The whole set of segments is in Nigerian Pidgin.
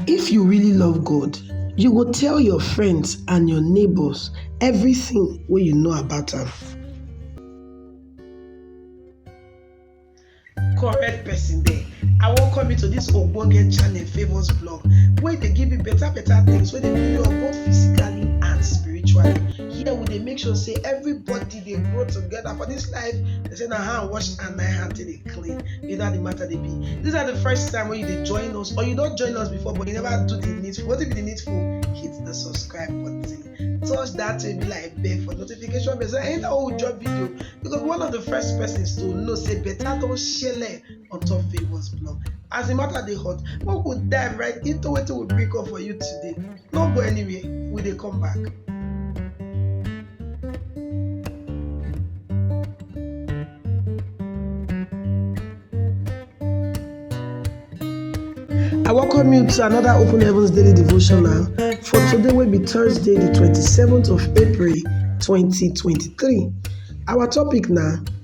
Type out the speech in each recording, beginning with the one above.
If you really love God, you go tell your friends and your neighbors everything wey you know about am. correct person there i welcome you to this ogbonge channel favours blog wey dey give you better better things wey dey build you up both physically and spiritually here we dey make sure say everybody dey grow together for this life they say na hand wash and na hand take dey clean you know how the matter dey be this na the first time wey you dey join us or you don join us before but you never do the needful wetin be the needful hit the subscribe button touch that baby like bell for notification bell so anytime wey we drop video you go be one of the first persons to know say better don shele on top favours blog as the matter dey hot make we dive right into wetin we bring up for you today No go anywhere, we dey come back. I welcome you to another Open Heavens Daily Devotional for today will be Thursday, the 27th of April, 2023. Our topic now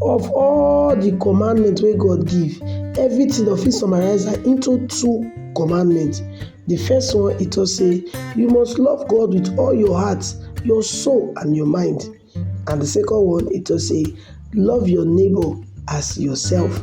Of all the commandment wey God give, everything dem fit summarize am into two commandment. The first one, e talk say you must love God with all your heart, your soul and your mind. And the second one, e talk say love your neighbor as yourself.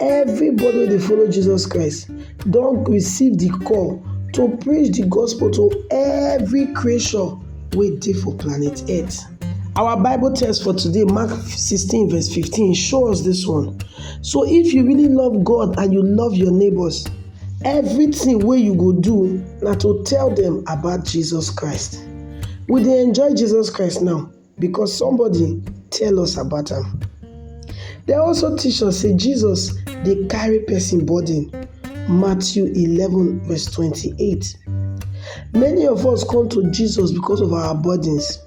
Everybody wey dey follow Jesus Christ don receive the call to preach the gospel to every creation wey dey for planet Earth. Our Bible text for today, Mark 16, verse 15, show us this one. So, if you really love God and you love your neighbors, everything wey you go do na to tell them about Jesus Christ. We dey enjoy Jesus Christ now. because somebody tell us about am. Dem also teach us say Jesus dey carry person burden, Matthew eleven verse twenty-eight. Many of us come to Jesus because of our burdens.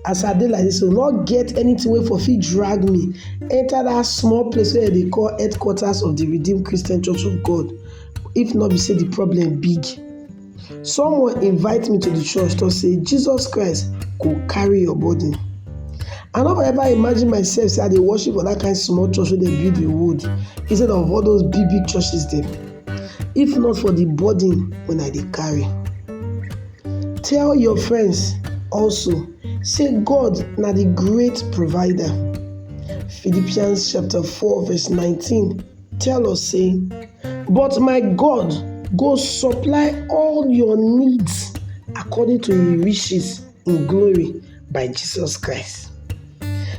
As I dey like this, so no get anything wey for fit drag me enter that small place wey dem dey call headquarters of the Redeemed Christian Church of God if no be say the problem big. Someone invite me to the church to say Jesus Christ go carry your burden. I no ever imagine myself say I dey worship for that kind small church wey dem build with wood instead of all those big big churches dem. If not for the burden wey I dey carry. Tell your friends also say God na the great provider. Philippians chapter 4 verse 19 tell us say, But my God go supply all your needs according to him riches in glory by Jesus Christ.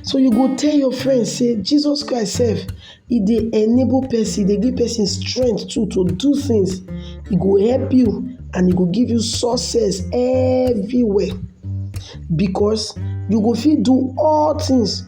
So you go tell your friend say Jesus Christ sef e dey enable person, e dey give person strength too to do things. E go help you and e go give you success everywhere because you go fit do all things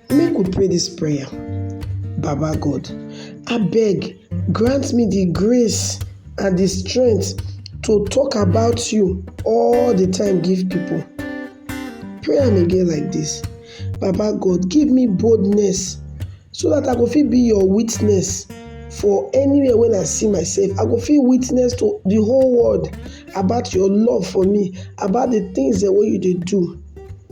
Make we pray dis prayer, Baba God, abeg grant me di grace and di strength to talk about you all di time give pipo. Pray am again like dis, Baba God give me boldness so dat I go fit be your witness for anywhere wey I see myself, I go fit witness to di whole world about your love for me, about di tins dem wey you dey do.